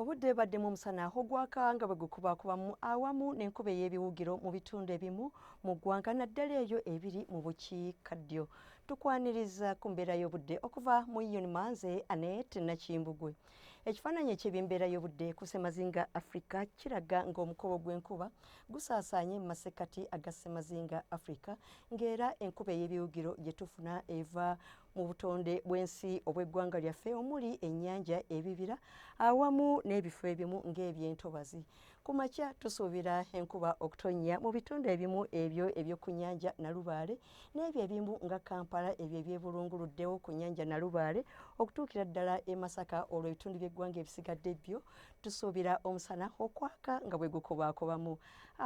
Obudde baddemu omusana ogwaka nga bwe gukubaakubamu awamu n'enkuba ey'ebiwugiro mu bitundu ebimu mu ggwanga naddala eyo ebiri mu bukiikaddyo. Tukwaniriza ku mbeera y'obudde okuva mu Ion Manze Anet Nakimbugwe. Ekifaananyi eky'ebyembeera y'obudde ku ssemazinga Afrika kiraga ng'omukobo gw'enkuba gusaasaanye mu masekkati aga ssemazinga Afrika ng'era enkuba ey'ebiwugiro gye tufuna eva mu butonde bw'ensi obw'eggwanga lyaffe omuli ennyanja ebibira awamu n'ebifo ebimu ng'ebyentobazi ku makya tusuubira enkuba okutonnya mu bitundu ebimu ebyo eby'oku nnyanja nalubaale n'ebyo ebimu nga kampala ebyo ebyebulunguluddewo ku nnyanja nalubaale okutuukira ddala e masaka olwo ebitundu by'eggwanga ebisigadde byo tusuubira omusana okwaka nga bwe gukubaakubamu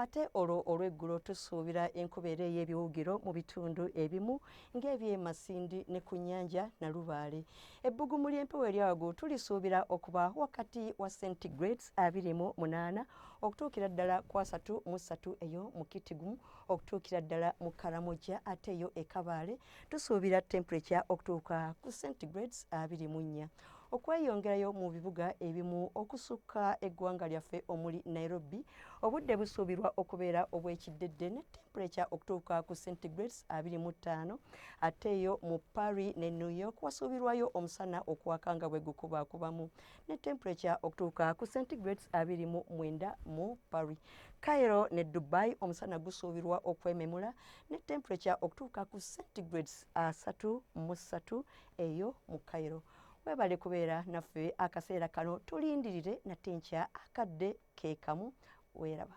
Ate olwo olw'eggulo tusuubira enkuba era ey'ebiwugiro mu bitundu ebimu ng'eby'e Masindi ne ku nnyanja Nalubaale. Ebbugumu ly'empewo erya waggulu tulisuubira okuba wakati wa centigrades abiri mu munaana okutuukira ddala ku asatu mu ssatu eyo mu Kitgum okutuukira ddala mu Karamoja ate yo e Kabale tusuubira temperature okutuuka ku centigrades abiri mu nnya. okweyongerayo mu bibuga ebimu okusukka eggwanga lyaffe omuli Nairobi obudde busuubirwa okubeera obw'ekiddedde ne tempuleca okutuuka ku centigrades 25 ate eyo mu Paris ne New York wasuubirwayo omusana okwaka nga bwe gukubaakubamu ne tempuleca okutuuka ku centigrades 29 mu Paris. Cairo ne Dubai omusana gusuubirwa okwememula ne tempuleca okutuuka ku centigrades 33 eyo mu Cairo. Webale kubeera naffe akaseera kano, tulindirire nate nkya akadde ke kamu. Weeraba.